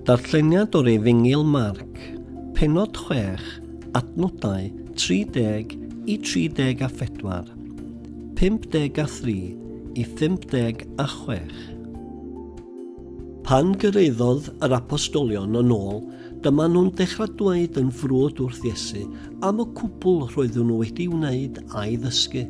Darlleniad o'r Efengyl Marc, penod 6, adnodau 30 i 34, 53 i 56. Pan gyrraeddodd yr apostolion yn ôl, dyma nhw'n dechrau dweud yn frwd wrth Iesu am y cwbl roeddwn nhw wedi wneud a'i ddysgu.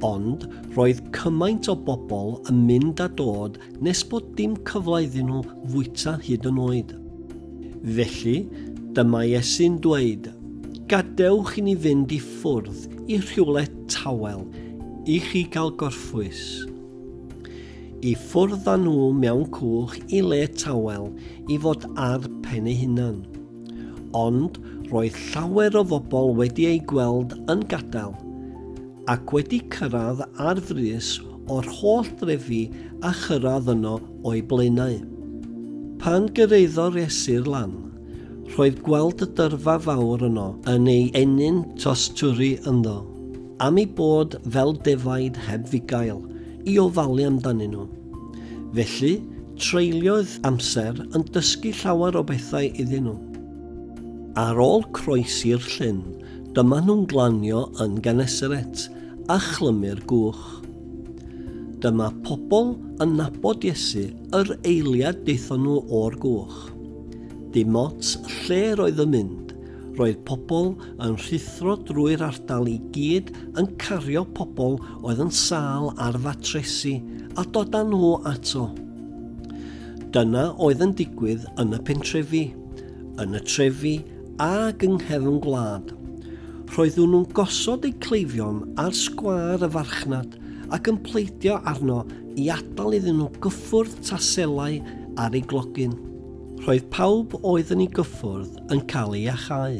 Ond roedd cymaint o bobl yn mynd a dod Nes bod dim cyfle iddyn nhw fwyta hyd yn oed. Felly, dyma Iesu'n dweud, Gadewch i ni fynd i ffwrdd i rhywle tawel i chi gael gorffwys. I ffwrdd â nhw mewn cwch i le tawel i fod ar pen ei hunan. Ond roedd llawer o fobl wedi ei gweld yn gadael ac wedi cyrraedd ar frys o'r holl drefi a chyrraedd yno o'i blaenau. Pan gyrraeddo'r esir lan, rhoedd gweld y dyrfa fawr yno yn ei ennyn tosturi ynddo, am eu bod fel defaid heb fugail i ofalu amdanyn nhw. Felly, treuliodd amser yn dysgu llawer o bethau iddyn nhw. Ar ôl croesi'r llyn, Dyma nhw'n glanio yn Genesaret, a chlymu'r gwch. Dyma pobl yn nabod Iesu, yr eiliad daethon nhw o'r gwch. Dim ots lle roedd yn mynd, roedd pobl yn rhuthro drwy'r ardal i gyd yn cario pobl oedd yn sâl ar fatresi a dod â nhw ato. Dyna oedd yn digwydd yn y pentrefi, yn y trefi ag yng nghefn gwlad. Roeddwn nhw'n gosod eu cleifion ar sgwâr y farchnad ac yn pleidio arno i adael iddyn nhw gyffwrdd taselau ar ei glogyn. Roedd pawb oedd yn ei gyffwrdd yn cael ei achau.